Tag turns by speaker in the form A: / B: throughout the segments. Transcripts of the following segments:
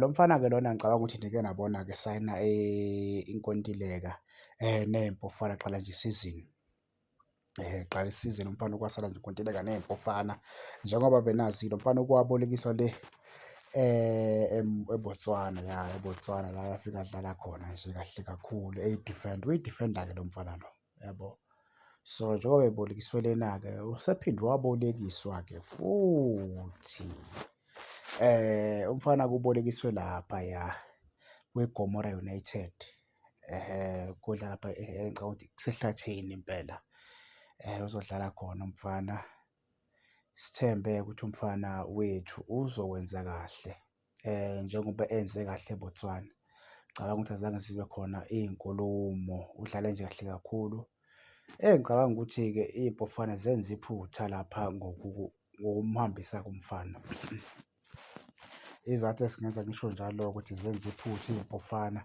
A: Lo mfana-ke lona ngicabanga ukuthi nike nabona-ke esayina inkontileka ney'mpofana kuqala nje isizini. Kuqala isizini umfana kwasala nje inkontileka ney'mpofana njengoba benazi lo mfana okwabolekiswa le eBotswana, ya eBotswana la afika adlala khona nje kahle kakhulu eyi-defender, uyi-defender-ke lo mfana lo. yabo so njengoba ebolekiswe lena-ke usephinde wabolekiswa-ke futhi eh umfana kubolekiswe lapha ya kweGomora United eh kodla lapha eh, eh, ngicabanga ukuthi kusehlathini impela eh uzodlala khona umfana sithembe ukuthi umfana wethu uzokwenza kahle njengoba enze kahle eBotswana. Ngicabanga ukuthi azange zibe khona iy'nkulumo, udlale nje kahle kakhulu. Engicabanga ukuthi-ke iBafana zenza iphutha lapha ngokumhambisa kumfana. Isizathu esingenza ngisho njalo-ke ukuthi zenza iphutha iBafana,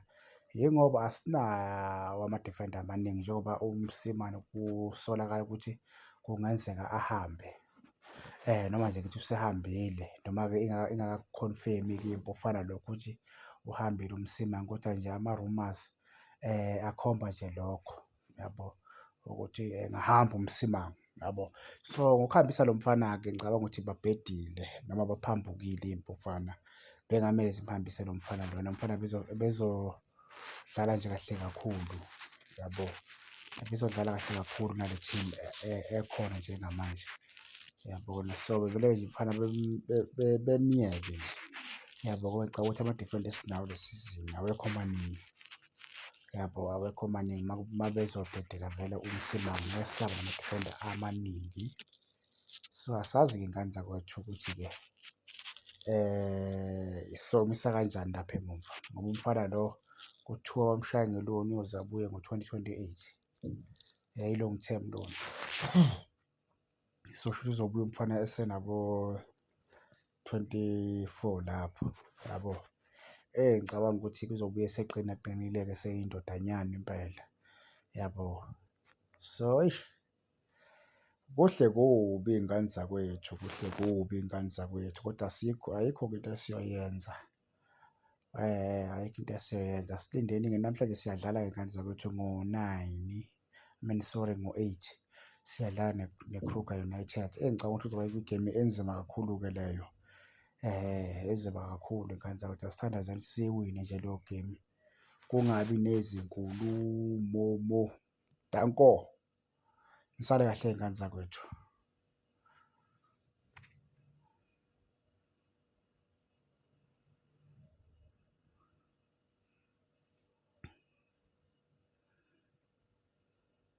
A: yingoba asinawo ama-defender amaningi njengoba uMosimane kusolakala ukuthi kungenzeka ahambe. noma nje ngithi usehambile noma-ke ingaka-confirm-i-ke impi okufana nalokho ukuthi uhambile uMsimang, kodwa nje ama-rumours akhomba nje lokho, yabo ukuthi engahamba uMsimang, yabo. So, ngokuhambisa lo mfana-ke ngicabanga ukuthi babhedile noma baphambukile impi okufana, bekungamele zimhambise lo mfana lona, lo mfana . Dlala nje kahle kakhulu yabo, ibizodlala kahle kakhulu nale team ekhona njengamanje yabona. So, bevele nje umfana bemyeke nje yabo ngoba ngicabanga ukuthi ama-defender esinawo le sizini awekho maningi yabo, awekho maningi. Uma bezodedela vele uMsimango ngeke sisaba nama-defender amaningi. So asazi-ke ngani zakwethu ukuthi-ke eh isomisa kanjani lapha emumva ngoba umfana lo kuthiwa bamshaya ngeloni uyoze abuye ngo-2028 yayilong term loan so shuthi uzobuya umfana esenabo 24 lapho yabo eh ngicabanga ukuthi kuzobuye seqina qinile-ke seyindodanyana impela yabo so eish Kuhle kubi ngani zakwethu, kuhle kubi ngani zakwethu kodwa asikho, ayikho-ke into esiyoyenza. Ayikho into esiyoyenza, asilindeni-ke namhlanje siyadlala-ke ngani zakwethu ngo-nine, I mean sorry ngo-eight siyadlala neKruger United. Eyi ngicabanga ukuthi kuzoba igemu enzima kakhulu-ke leyo, enzima kakhulu ngani zakwethu. Asithandazeni siyiwine nje leyo gemu, kungabi nezinkulumo mo. Danko. Nisale kahle iy'ngane zakwethu.